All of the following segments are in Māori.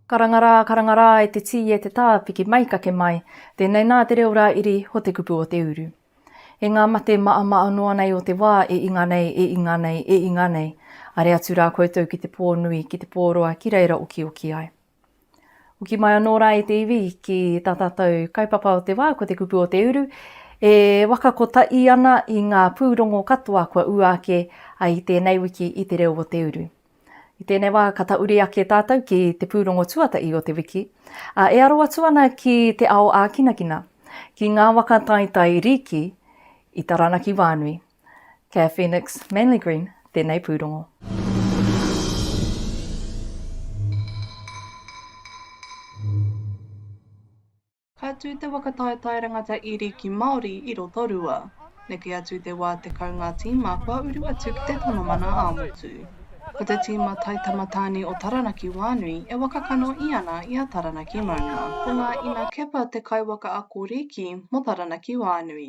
Karanga rā, karanga rā e te tī e te tā piki mai kake mai, tēnei nā te reo rā iri ho te kupu o te uru. E ngā mate maama'a noa nei o te wā e inga nei, e inga nei, e inga nei, are atu rā koutou ki te pō nui, ki te pō roa ki reira okioki ai. Hoki mai anō rā e te iwi ki tā tātou kaupapa o te wā, ko te kupu o te uru, e waka kotahi ana i ngā pūrongo katoa kua ua ake i tēnei wiki i te reo o te uru. I tēnei wā, ka tauri ake tātou ki te pūrongo tuatahi o te wiki, e aro atu ana ki te ao ākinakina, ki ngā waka taetae rīki i Taranaki wānui. Kia Phoenix Manly Green tēnei pūrongo. Ka tū te waka taetae rangata iri ki Māori i Rotorua. Neke atu te wā tekau ngā tīma kua uru atu ki te tono mana ā-motu. Ko te tīma Taitama Tāne o Taranaki wānui e waka kanohi ana i a Taranaki Maunga. Ko ngā ina Kepa te kaiwaka ako rīki mō Taranaki wānui.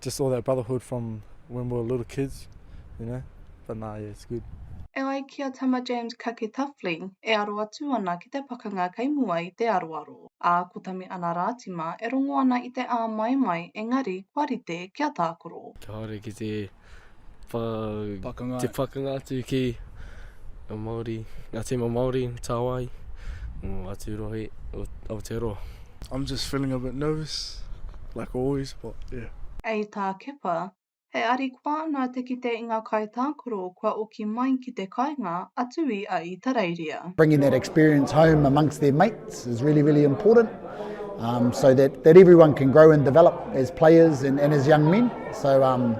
Just all that brotherhood from when we were little kids, you know, but nah, yeah, it's good. E ai ki a Tama James Kaketawhli, e aro atu ana ki te pakanga kei mua i te aroaro, ā, ko Tame Ana Rātima e rongo ana i te āmaimai engari kua rite kia tākaro. Kia haere ki te pa, pakanga. te pakanga atu ki a Māori, ngā tīma Māori, Tāwai, o atu rohe o Aotearoa. I'm just feeling a bit nervous, like always, but yeah. Hei tā Kepa, he arikoa ana te kite i ngā kaitākaro kua oki mai ki te kainga atu i a Itareiria. Bringing that experience home amongst their mates is really, really important um, so that, that everyone can grow and develop as players and, and as young men. So um,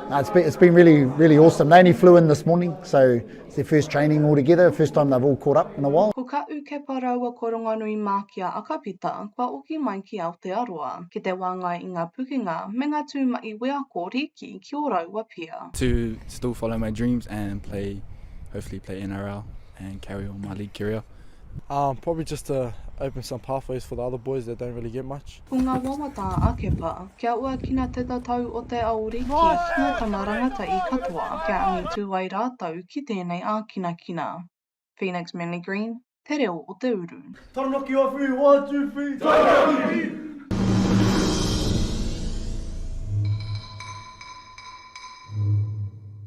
No, it's been, it's been really, really awesome. They only flew in this morning, so it's their first training all together, first time they've all caught up in a while. Ko Kaʻu Kepa raua ko Rongonui mā ki a Akapita kua oki mai ki Aotearoa ki te wāngai i ngā pukenga me ngā tū maʻi wheako rīki ki ō rāua pia. To still follow my dreams and play, hopefully play NRL and carry on my league career. Um, probably just to open some pathways for the other boys that don't really get much. Ko ngā wawata a Kepa, kia uakina te tatau o te aori ki ngā tama rangatahi katoa kia angitū ai rātou ki tēnei ākinakina. Phoenix Manly Green, Te Reo o te Uru. Taranaki awhi, one, two, three, Taranaki!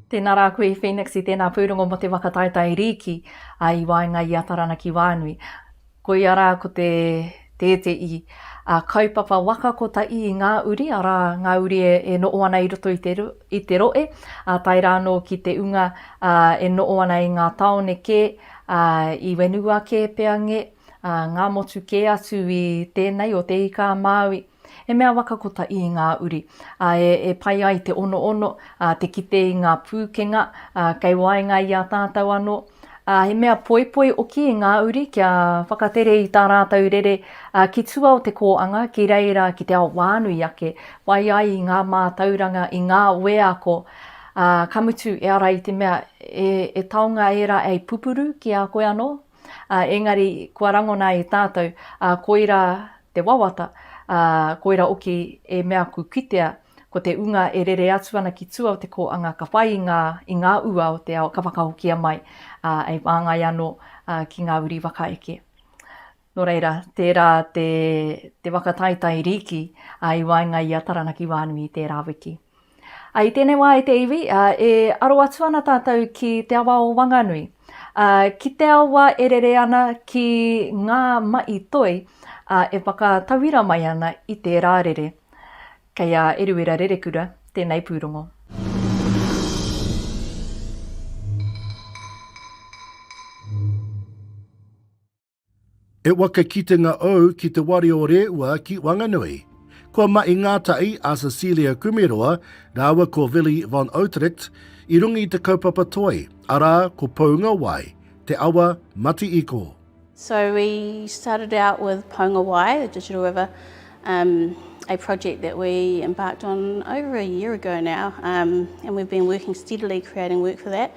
Tēnā rā koe i Phoenix i tēnā pūrongo mō te waka taetae rīki i waenga i a Taranaki wānui. Koia rā ko te tēteī a kaupapa waka ko ta ii ngā uri, arā, ngā uri e noʻo ana i roto i te roʻe, a tae rā nō ki te unga e noʻo ana i ngā taone kē, a i whenua kē pea ngē, a ngā motu kē atu i tēnei o Te Ika-a-Māui. He mea waka kotahi i ngā uri e pai ai te onoono, te kite i ngā pūkenga kei waenga i a tātou anō. He mea poipoi hoki i ngā uri kia whakatere i tā rātou rere ki tua o te kōanga ki reira ki te ao whānui ake, pai ai i ngā mātauranga, i ngā wheako, ā, ka mutu e ara i te mea e taonga ērā hei pupuru ki a koe anō. ā, engari kua rangona e tātou, ā, koirā te wawata, ā, koira oki e mea aku kitea, ko te unga e rere atu ana ki tua o te kōanga ka whai i ngā, i ngā ua o te ao ka whakahokia mai, ā, e whāngai anō, ā, ki ngā uri whakaeke. Nō reira, tērā te, te whakataetae rīki, ā, i waenga i a Taranaki Wānui i tērā wiki. Ā, i tēnei wā, e te iwi, ā, e aro atu ana tātou ki te awa o Wanganui, ā, ki te awa e rere ana ki ngā maʻi toi, ā, e whakatauira mai ana i tērā rere. Kei a Eruera Rerekura tēnei pūrongo. E wa ke kitenga ou ki te wari o Reua ki Wanganui. Kua mahi ngātahi a Cecilia Kumeroa rāua ko Willy von Uetricht i runga i te kaupapa toi, arā, ko Poungawai, te awa Mati-iko. So we started out with Poungawai, the digital river, um, a project that we embarked on over a year ago now, um, and we've been working steadily creating work for that.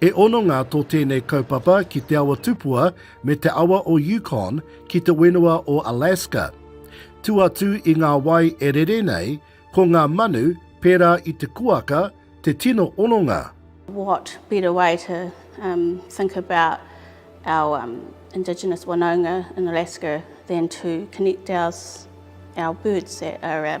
He hononga tō tēnei kaupapa ki Te Awa Tupua me te awa o Yukon ki te whenua o Alaska. Tū atu i ngā wai e rere nei, ko ngā manu, pērā i te kuaka, te tino hononga. What better way to think about our indigenous wanaunga in Alaska than to connect our birds that are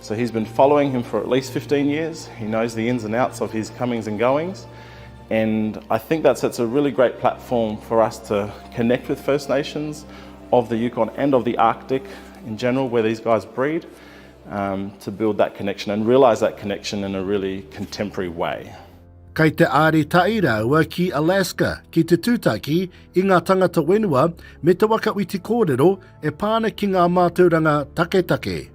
So he's been following him for at least 15 years, he knows the ins and outs of his comings and goings and I think that sets a really great platform for us to connect with First Nations of the Yukon and of the Arctic in general where these guys breed um, to build that connection and realise that connection in a really contemporary way. Kei te āritai rāua ki Alaska ki te tūtaki i ngā tangata whenua me te waka witi kōrero e pā ana ki ngā mātauranga taketake.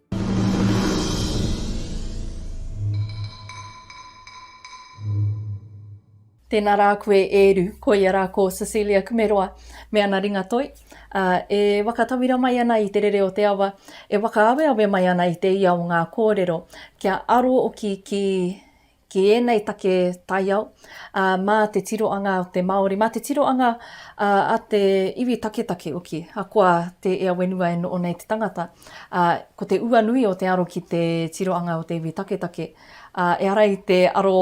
Tēnā rā koe e Eru, koia rā ko Cecilia Kumeroa me ana ringa toi, ā, e whakatauira mai ana i te rere o te awa, e whakaaweawe mai ana i te ia o ngā kōrero, kia aro ki, ki, ki ēnei take taiao, ā, mā te tiroanga o te Māori, mā te tiroanga ā, a te iwi taketake hoki, ahakoa te ea whenua e noho nei te tangata, ā, ko te ua nui o te aro ki te tiroanga o te iwi taketake, ā, ehara i te aro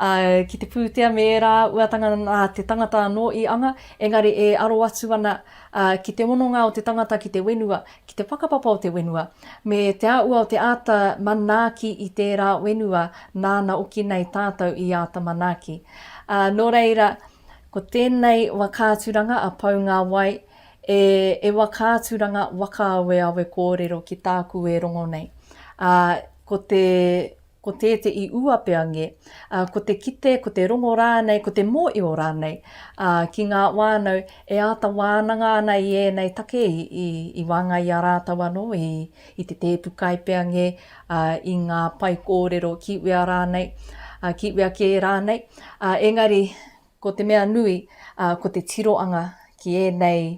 ā, ki te pūtea me ērā uatanga nā te tangata anō i anga, engari e aro atu ana ā, ki te hononga o te tangata ki te whenua, ki te whakapapa o te whenua, me te āhua o te āta manaaki i tērā whenua nāna oki nei tātou i āta manaaki. Ā, nō reira, ko tēnei wakaaturanga a Pou Ngā Wai, e, e wakaaturanga wakaaweawe kōrero ki tāku e rongo nei. Ā, ko te. ko te te i ua pea nge, a, ko te kite, ko te rongo rānei, ko te mōio rānei, a, ki ngā wānau e āta wānanga ana i ēnei take i, i, i waenga i a rātou anō, i, i te tēpu kai pea nge, a, i ngā pae kōrero ki wea rānei, a, ki wea kē rānei, a, engari ko te mea nui, a, ko te tiroanga ki ēnei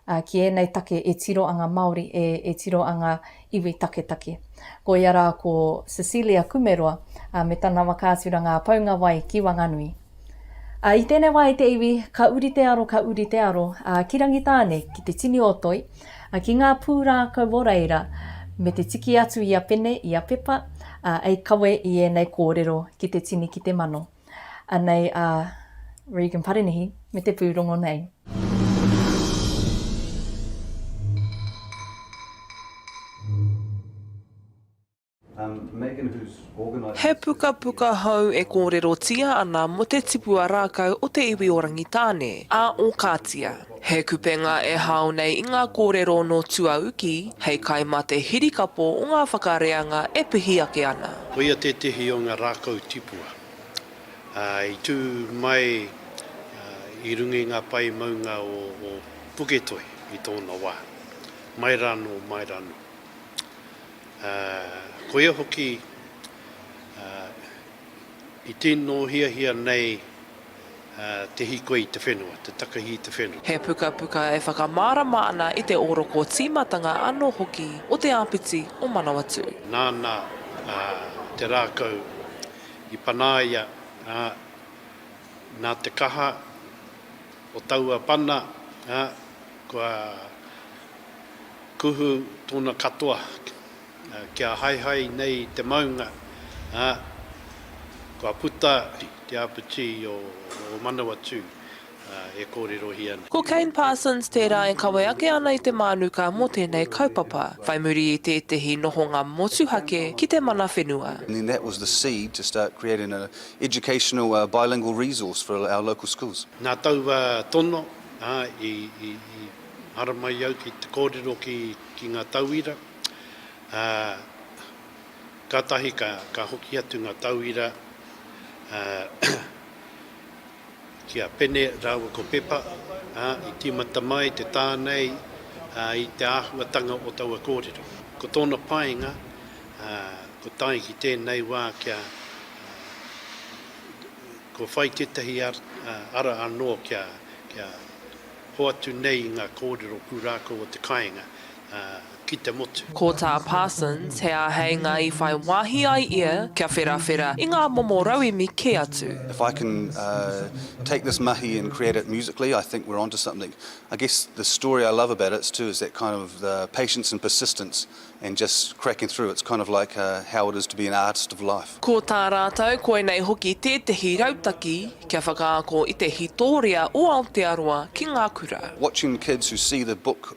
ā, ki ēnei take e tiro anga Māori, e, e tiro anga iwi taketake. Ko ia rā ko Cecilia Kumeroa, ā, me tana waka atu rā Ngā Paungawai ki Wanganui. Ā, i tēnei wā i te iwi, ka uri te aro, ka uri te aro, ā, ki Rangitāne, ki te tini o Toi, ā, ki ngā pūrākau o reira, me te tiki atu i a Pene, i a Pepa, ā, ei kawe i ēnei kōrero ki te tini ki te mano. Anei a Regan Parenihi me te pūrongo nei. He pukapuka hou e kōrerotia ana mō te tipua rākau o te iwi o Rangitāne, a Ōkātia. He kupenga e hao nei i ngā kōrero nō tuauki hei kai mā te hirikapo o ngā whakareanga e pihi ake ana. Koia tētehi o ngā rākau tipua, ā, i tū mai i runga i ngā pae maunga o Puketoi i tōna wā, mai rānō, mai rānō. Ā, koia hoki i tīnohiahia nei. te hīkoi i te whenua, te takahi i te whenua. He pukapuka e whakamārama ana i te ōroko tīmatanga anō hoki o te āpiti o Manawatū. Nāna te rākau i panaia, ā, nā te kaha o taua pana, ā, kua kuhu tōna katoa Kia haehae nei te maunga, ā, kua puta te apatī o Manawatū e kōrerohia nei. Ko Kane Parsons tērā e kawe ake ana i te mānuka mō tēnei kaupapa, whai muri i tētehi nohonga motuhake ki te mana whenua. And then that was the seed to start creating an educational bilingual resource for our local schools. Nā taua tono, ā, i haramai au ki te kōrero ki ngā tauira. Kātahi ka hoki atu ngā tauira ki a Pene rāua ko Pepa i tīmata mai te tā nei i te āhuatanga o taua kōrero. Ko tōna painga kua tae ki tēnei wā kia kua whai tētahi ara anō kia hoatu nei i ngā kōrero pūrākau o te kāinga. ki te motu. Ko tā Parsons he āheinga i whai wāhi ai ia kia wherawhera i ngā momo rauemi kē atu. If I can take this mahi and create it musically, I think we're onto something. I guess the story I love about it too is that kind of the patience and persistence and just cracking through, it's kind of like how it is to be an artist of life. Ko tā rātou koinei hoki tētehi rautaki kia whakaako i te hītōria o Aotearoa ki ngā kura. Watching kids who see the book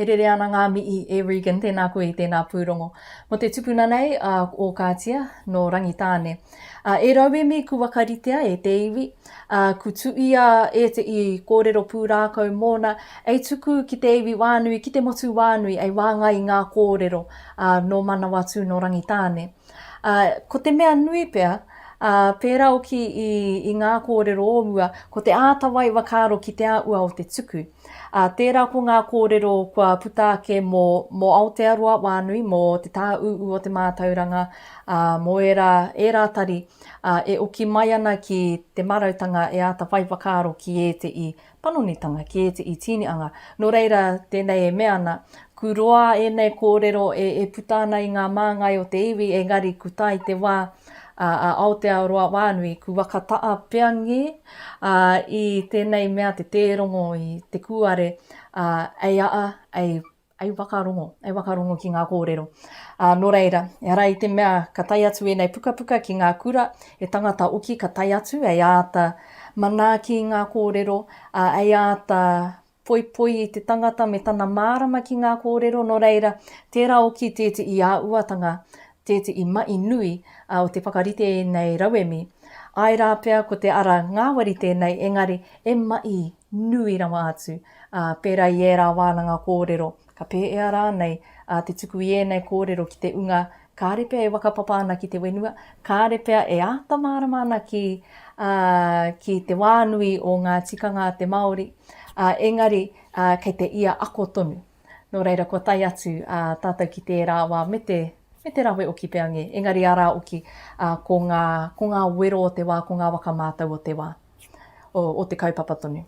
E rere ana ngā mihi e Regan, tēnā koe i tēnā pūrongo. Mō te tupuna nei a Ōkātia, nō Rangitāne. A, e rauemi ku wakaritea e te iwi, a, ku tuia e te i kōrero pūrākau mōna, ei tuku ki te iwi wānui, ki te motu wānui, ei wāngai i ngā kōrero, a, nō Manawatū, nō Rangitāne. A, ko te mea nui pea, a, pērā oki i, i ngā kōrero o mua, ko te āta waiwa kāro ki te āhua o te tuku. Ā, tērā ko ngā kōrero kua puta ake mō, mō Aotearoa wānui, mō te tāūū o te mātauranga, ā, mō ērā, ērā tari, ā, e oki mai ana ki te marautanga e āta whai whakaaro ki ēteʻi panonitanga, ki ēteʻi tīniʻanga. Nō reira, tēnei e mea ana, Ku roa ēnei kōrero e, e puta ana i ngā māngai o te iwi, engari ku tae te wā, ā, a Aotearoa wānui, ku waka taʻa pea ngē, Ā, i tēnei mea te tērongo i te kūare, ā, ei aa, ei, ei wakarongo, ei wakarongo ki ngā kōrero. Ā, nō reira, ehara i te mea ka tae atu ēnei pukapuka ki ngā kura, he tangata oki ka tae atu, ei āta manaaki i ngā kōrero, ā, ei āta Poipoi i te tangata me tana mārama ki ngā kōrero nō reira, tērā oki tēteʻi āuatanga, tēteʻi maʻi nui o te whakarite i ēnei rauemi. Āe rā pea ko te ara ngāwari tēnei engari e maʻi nui rawa atu pērā i ērā wānanga kōrero. Ka pēea rānei a te tuku i ēnei kōrero ki te unga, kāre pea e whakapapa ana ki te whenua, kāre pea e āta mārama ana ki, ā, ki te wā nui o ngā tikanga a te Māori, ā, engari, ā, kei te ia ako tonu. Nō reira, kua tae atu, ā, tātou ki tērā wā me te, me te rawe oki pea ngē, engari arā oki, ā, ko ngā, ko ngā wero o te wā, ko ngā waka mātau o te wā, o, o te kaupapa tonu.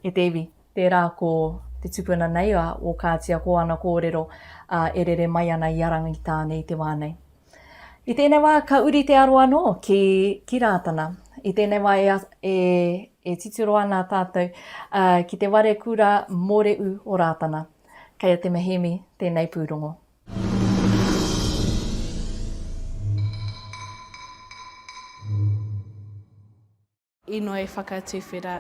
E te iwi, tērā ko te tupuna nei a Ōkātia ko ana kōrero ā, e rere mai ana i a Rangitāne i te wā nei. I tēnei wā ka uri te aro anō ki, ki Rātana. I tēnei wā e, e, e titiro ana tātou ā, ki te ware kura mōreū o Rātana. Kei a Te Mehemi tēnei pūrongo. Inoi whakatuwhera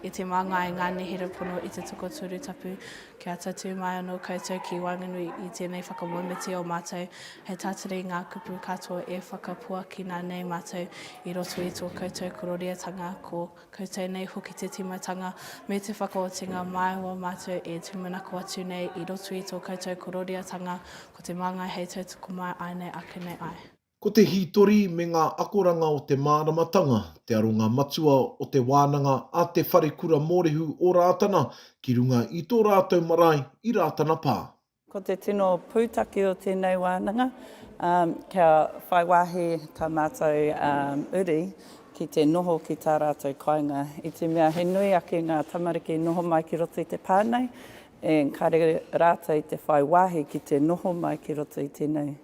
e te māngai ngā nehere pono i te tokoturu tapu kia tatū mai anō koutou ki waenganui i tēnei whakamoemiti o mātou hei tātari i ngā kupu katoa e whakapuakina nei mātou i roto i tō koutou kororiatanga ko koutou nei hoki te tīmatanga me te whakaotinga māua mātou e tūmanako atu nei i roto i tō koutou kororiatanga ko te māngai hei tautoko mai ai nei ake nei ai. Ko te hītori me ngā akoranga o te māramatanga te aronga matua o te wānanga a Te Wharekura Mōrehu o Rātana ki runga i tō rātou marae i Rātana Pā. Ko te tino pūtake o tēnei wānanga, kia whai wāhi tā mātou uri ki te noho ki tā rātou kāinga. I te mea he nui ake ngā tamariki i noho mai ki roto i te pā nei, engari rātou i te whai wāhi ki te noho mai ki roto i tēnei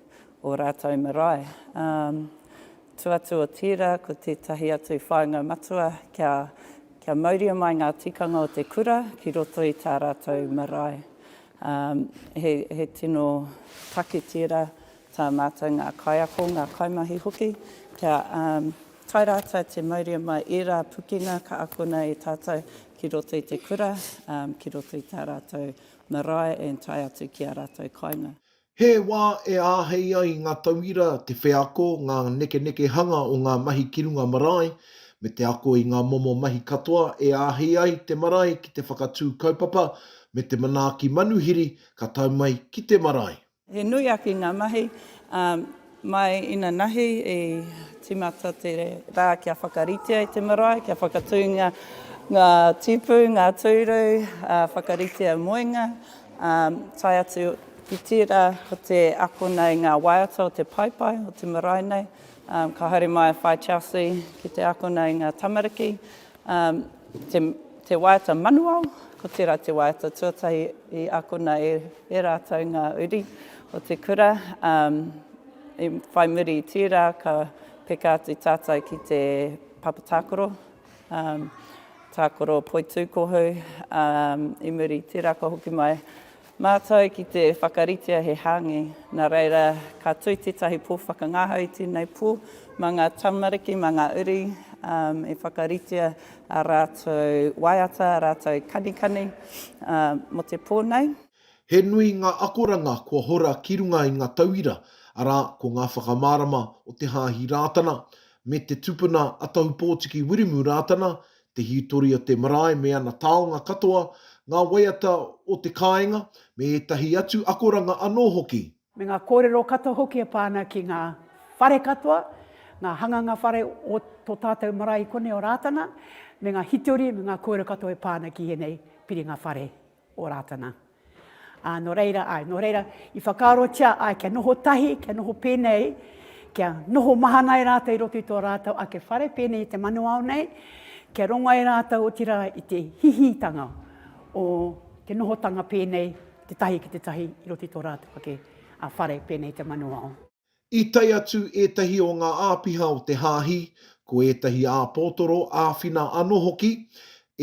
ō rātou marae. Ā, tū atu o tērā ko tētahi atu whāinga matua kia, kia mauria mai ngā tikanga o te kura ki roto i tā rātou marae. Ā, he, he tino take tērā tā mātou ngā kaiako, ngā kaimahi hoki, kia, ā, tae rātou te mauria mai ērā pukenga ka akona e tātou ki roto i te kura, ā, ki roto i tā rātou marae and tae atu ki ā rātou kāinga. He wā e āhei ai ngā tauira te wheako, ngā nekenekehanga o ngā mahi ki runga marae, me te ako i ngā momo mahi katoa e āhei ai te marae ki te whakatū kaupapa me te manaaki manuhiri ka tau mai ki te marae. He nui ake ngā mahi, ā, Mai inanahi i timata te rā kia whakaritea i te marae, kia whakatūngia ngā tipu, ngā tūru, whakaritea moenga, tae atu ki tērā ko te akona i ngā waiata o te paepae o te marae nei. Ka haere mai a Whae Chelsea ki te akona i ngā tamariki, Te waiata manuao, ko tērā te waiata tuatahi i akona e e rātou ngā uri o te kura. I whai muri i tērā, ka peka atu tātou ki te papa tākaro, tākaro poitūkohu. I muri i tērā, ka hoki mai Mātou ki te whakaritea he hāngi, nā reira ka tū tētahi pō whakangahau i tēnei pō, mā ngā tamariki, mā ngā uri e whakaritea ā rātou waiata, ā rātou kanikani mō te pō nei. He nui ngā akoranga kua hora ki runga i ngā tauira, arā, ko ngā whakamārama o Te Hāhi Rātana, me te tupuna a Tahupōtiki Wiremu Rātana, te hītori o te marae me ana taonga katoa, ngā waiata o te kāinga, me ētahi atu akoranga anō hoki. Me ngā kōrero katoa hoki e pā ana ki ngā whare katoa, ngā hanganga whare o tō tātou marae i konei o Rātana, me ngā hītori me ngā kōrero katoa e pā ana ki ēnei piringa whare. o Rātana. Ā, nō reira, āe, nō reira, i whakaarotia ai kia noho tahi, kia noho pēnei, kia noho mahana ai rātou i roto i tō rātou ake whare pēnei i te manuao nei, kia rongo ai rātou otirā i te hihitanga o te nohotanga pēnei te tahi ki te tahi i roto i tō rātou ake whare pēnei i te manuao. I tae atu ētahi o ngā āpiha o te Hāhi, ko ētahi āpotoro, āwhina anō hoki,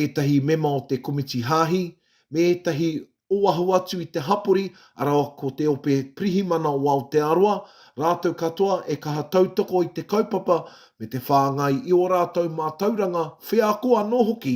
ētahi mema o te Komiti Hāhi, me ētahi oahu atu i te hapori, arā ko te Ope Pirihimana o Aotearoa, rātou katoa e kaha tautoko i te kaupapa me te whāngai i ō rātou mātauranga wheako anō hoki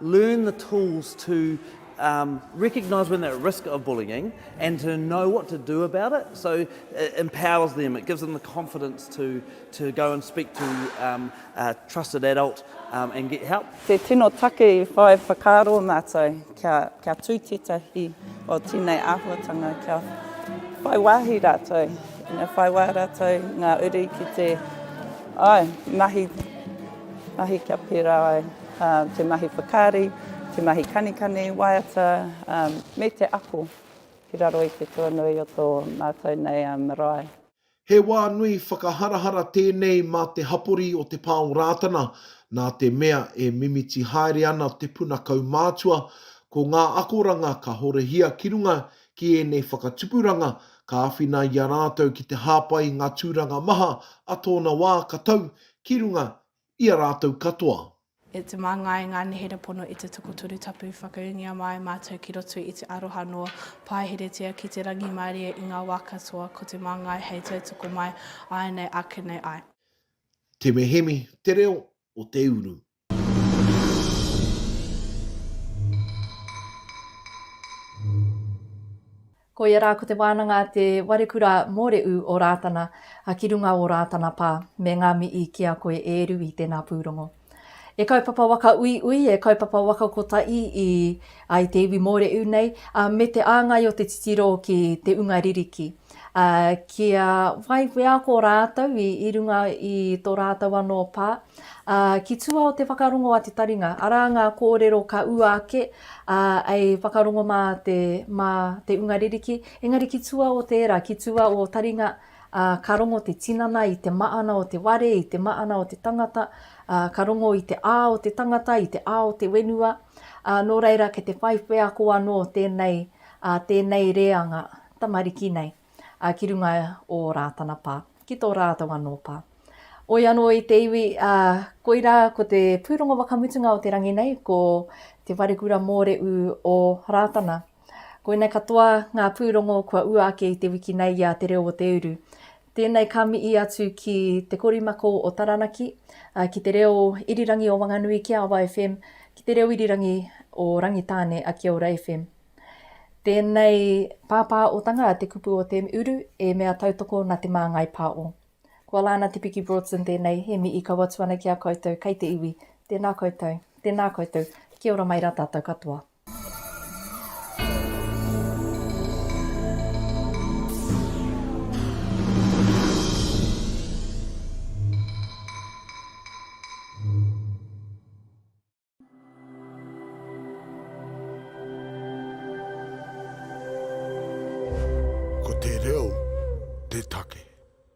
learn the tools to recognise when they're at risk of bullying and to know what to do about it, so it empowers them, it gives them the confidence to to go and speak to a trusted adult and get help. Te tino take i whai whakaaro mātou kia kia tū tētahi o tēnei āhuatanga kia whai wāhi rātou, ina whai wā rātou ngā uri ki te, āe, mahi, mahi kia pērā ai. te mahi whakaari, te mahi kanikani, waiata, me te ako ki raro i te tuanui o tō mātou nei marae. He wā nui whakaharahara tēnei mā te hapori o Te Pā o Rātana, nā te mea e mimiti haere ana te puna kaumātua, ko ngā akoranga ka horahia ki runga ki ēnei whakatupuranga ka āwhina i a rātou ki te hāpai i ngā tūranga maha a tōna wā ka tau ki runga i a rātou katoa. E te manga i ngā nehere pono i te tokotoru tapu whakaūngia māi mātou ki roto i te aroha noa, pāheretia ki te rangimārie i ngā wā katoa ko te māngai hei tautoko mai āianei ake nei ai. Te Mehemi, te reo o te uru. Ko ia rā ko te wānanga Te Warekura Mōreū o Rātana a ki runga o Rātana pā, me ngā mii ki a koe e eru i tēnā pūrongo. E kaupapa waka uiui, e kaupapa waka kotaī i ai te iwi Mōreū nei, ā, me te āngai o te titiro ki te unga ririki, ā, kia whai wheako rātou i runga i tō rātou anō pā, Ā, ki tua o te whakarongo a te taringa, arā ngā kōrero ka ua ake, ā, ei whakarongo mā te, mā te unga ririki, engari ki tua o tērā, ki tua o taringa, ā, ka rongo te tinana i te maana o te ware, i te maana o te tangata, ā, ka rongo i te ā o te tangata, i te ā o te wenua, ā, nō reira kei te whai wheako anō tēnei, ā, tēnei reanga tamariki nei. ā, ki runga o Rātana pā, ki tō rātou anō pā. Oi anō i te iwi, ā, koirā ko te pūrongo whakamutunga o te rangi nei, ko Te Wharekura Mōreū o Rātana. Koinei katoa ngā pūrongo kua ua ake i te wiki nei i a Te Reo o Te Uru. Tēnei ka mihi atu ki Te Korimako o Taranaki, ā, ki Te Reo Irirangi o Wanganui, ki a Awa FM, ki Te Reo Irirangi o Rangitāne, a Kia Ora FM. Tēnei pāpā otanga te kupu o te uru e mea tautoko na te māngai pā o. Kua la ana te piki Broadson tēnei he mihi kau atu ana ki a koutou kei te iwi. Tēnā koutou. Tēnā koutou. Kia ora mai ra tatou katoa. Ko te reo te take.